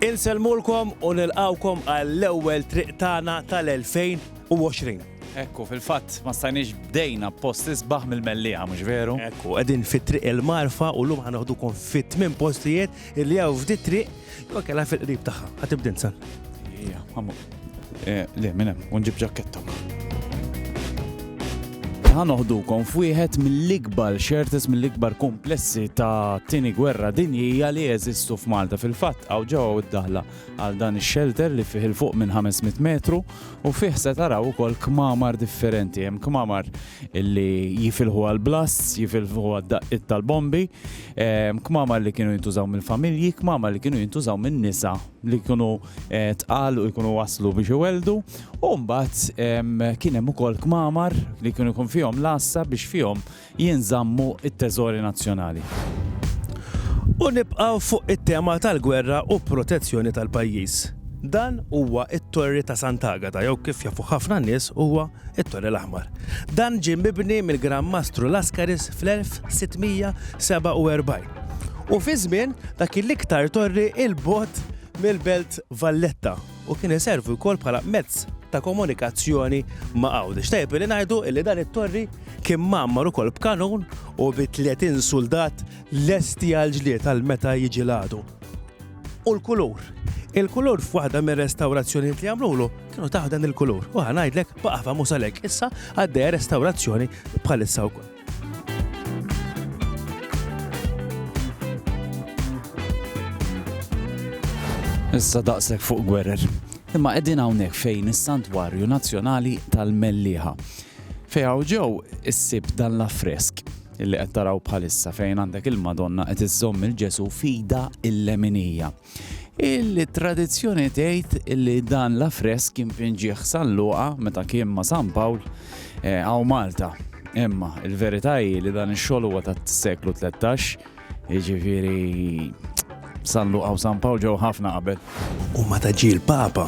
Insellmulkom u nilqgħukom għall-ewwel Triq Tagħna tal-2020. Ekku, fil-fatt ma stajniex bdejna b'post isbaħ mill-mellieħa, mhux veru? Ekku, qegħdin fit-triq il-marfa u llum ħanoħdukom fit tmien postijiet li hawn f'di triq jew kellha fil-qrib tagħha. Ħatibdin sal. Ija, Eh, le, minn hemm, u nġib ġakketta. Ħan oħdukom f'wieħed mill-ikbar xertes mill-ikbar komplessi ta' tini gwerra dinjija li jeżistu f'Malta fil-fatt għaw ġewwa id-daħla għal dan ix-xelter li fih il-fuq minn 500 metru u fih se taraw ukoll kmamar differenti. Hemm kmamar li jifilħu għal blasts, jifilħu għad daqqit tal-bombi, kmamar li kienu jintużaw mill-familji, kmamar li kienu jintużaw minn nisa li kienu tqal u jkunu waslu biex iwelldu u mbagħad kien hemm ukoll kmamar li kienu jkun fihom l-għassa biex fihom jinżammu t-teżori nazzjonali. U nibqgħu fuq it-tema tal-gwerra u protezzjoni tal-pajjiż. Dan huwa t-Torri ta' Sant'Agata jew kif jafuh ħafna nies huwa t-Torri l-Aħmar. Dan ġie mibni mill-Gran Mastru Lascaris fl-1647. U fi żmien dak il-iktar torri il-bot mill-belt Valletta u kien iservi wkoll bħala mezz ta' komunikazzjoni ma' Għawdex. Tajb li ngħidu li dan it-torri kien mammar ukoll b'kanun u bi 30 suldat lesti għal ġlied għal meta jiġi l-għadu. U l-kulur. Il-kulur f'waħda mir restawrazzjonijiet li għamlulu kienu taħdan il-kulur. U ħanajdlek baqafa musalek issa għaddej restawrazzjoni bħalissa wkoll. Issa daqshekk fuq gwerer. Imma qegħdin hawnhekk fejn is-Santwarju Nazzjonali tal-Mellieħa. Fejn hawn ġew issib dan l-affresk illi qed taraw bħalissa fejn għandek il-Madonna qed iżżomm il-Ġesu fida il-leminija. Il-tradizzjoni tgħid li dan l-affresk kien finġieħ sal-luqa meta kien ma' San Pawl eh, għaw Malta. Imma il-verità hi li dan ix-xogħol huwa tas-seklu 13, jiġifieri San Luqa u San Pawl ġew ħafna qabel. U ma taġi l-Papa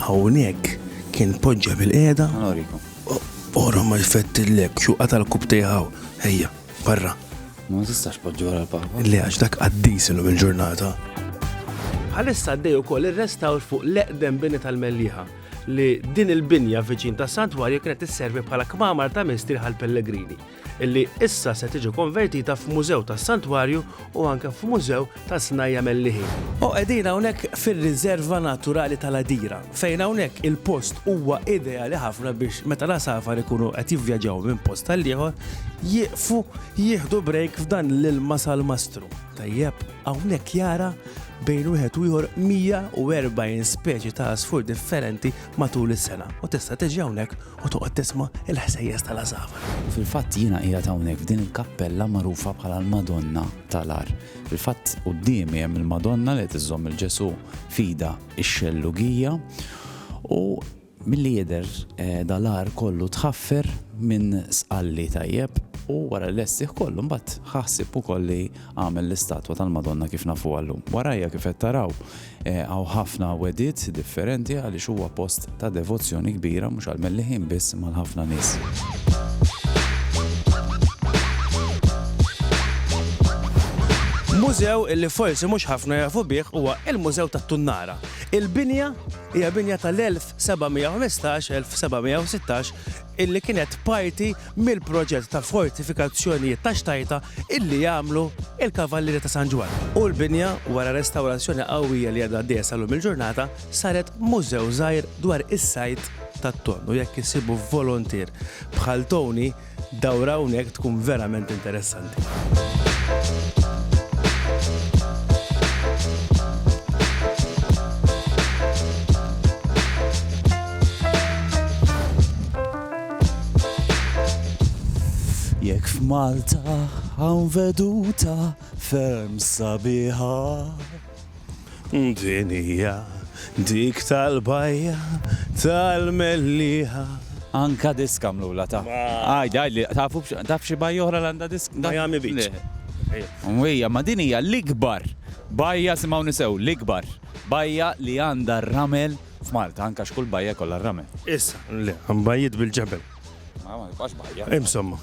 hawnhekk kien poġġa bil-qiegħda. Norikom. Ora ma jfettillek xuqa tal-kub tiegħu. Ejja. Barra. Ma tistax poġġi wara l-papa. Le għax dak qaddis illum il-ġurnata. Bħalissa għaddej ukoll ir-restawr fuq l-eqdem bini tal-Melliħa li din il-binja viċin ta' Santwarju kienet isservi bħala kmamar ta' mistrieħ għal pellegrini illi issa se tiġi konvertita f'mużew tas Santwarju u anke f'mużew tas-snajja' melliħin. O qegħdin hawnhekk fir-Riżerva Naturali tal-Għadira, fejn hawnhekk il-post huwa ideali ħafna biex meta l-għasafar ikunu qed jivvjaġġaw minn post għall-ieħor, jieqfu jieħdu brejk f'dan l-ilma salmastru. Tajjeb, hawnhekk jara bejn wieħed u ieħor 140 speċi ta' għasfur differenti matul is-sena u tista' tiġi hawnhekk u toqgħod tisma' il-ħsejjes tal-għasafar. Fil-fatt jiena qiegħed hawnhekk f'din il-kappella magħrufa bħala l-Madonna tal-agħar. Fil-fatt quddiemi hemm il-Madonna li qed iżżomm il-Ġesu fida x-xellugija u milli jidher eh, dal-agħar kollu tħaffer minn sqalli tajjeb u wara l-lessih kollu mbagħad ħaħsib ukoll li għamel l-istatwa tal-Madonna kif nafu għallum. Warajja kif qed taraw Hawn ħafna wegħdiet differenti għaliex huwa post ta' devozzjoni kbira mhux għall-Melliħin biss ma' l-ħafna nies. Mużew li forsi mhux ħafna jafu bih huwa l-Mużew tat-Tunnara. Il-binja hija binja tal-1715-1716 illi kienet parti mill-proġett ta' fortifikazzjonijiet ta' Xtajta illi għamlu il-Kavallieri ta' San Ġwann. U l-binja, wara restawrazzjoni qawwija li għadha għaddejja sal-lum il-ġurnata, saret mużew żgħir dwar is-sajd tat-tonn u jekk issibu voluntier bħal Tony dawra hawnhekk tkun verament interessanti. Jekk f'Malta hawn veduta ferm sabiħa. Din hija dik tal-bajja tal-mellieħa. Anka disk għamlulha ta'. Għid, għidli, tafu taf xi bajja oħra li għandha disk? Miami Beach. Le. U hija, ma din hija l-ikbar bajja, simgħuni sew, l-ikbar bajja li għandha r-ramel f'Malta, anka x'kull bajja jkollha r-ramel. Issa, le, hemm bajjiet bil-ġebel. Insomma.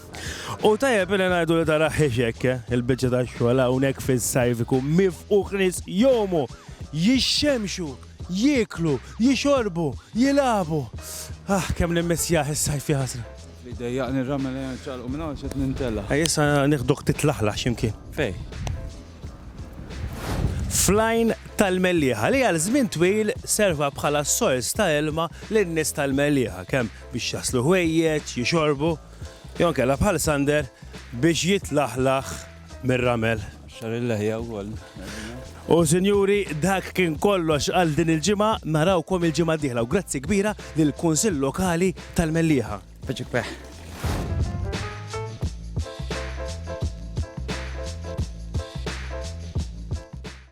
U tajjeb li ngħidu li tara ħexek eh, il-biċċa ta' xogħol hawnhekk fis-sajf ikun mifquħ nies jomu jixxemxu, jieklu, jixorbu, jilabu. Ah, kemm nimmissjaħ is-sajf jaħasra. Li dejjaqni ramel eh, ċalqu minn hawn xed nintella. Issa nieħduk titlaħlaħ x'imkien. Fej. Flajn tal-Melliħa li għal żmien twil serva bħala sors ta' ilma lin-nies tal-Melliħa kemm biex jaslu ħwejjeġ, jixorbu, jew inkella bħal Sander biex jitlaħlaħ mir-ramel. Xar il-leħja wkoll. U sinjuri, dak kien kollox għal din il-ġimgħa, narawkom il-ġimgħa diħla u grazzi kbira lill kunsill Lokali tal-Mellieħa. Biċik peħ.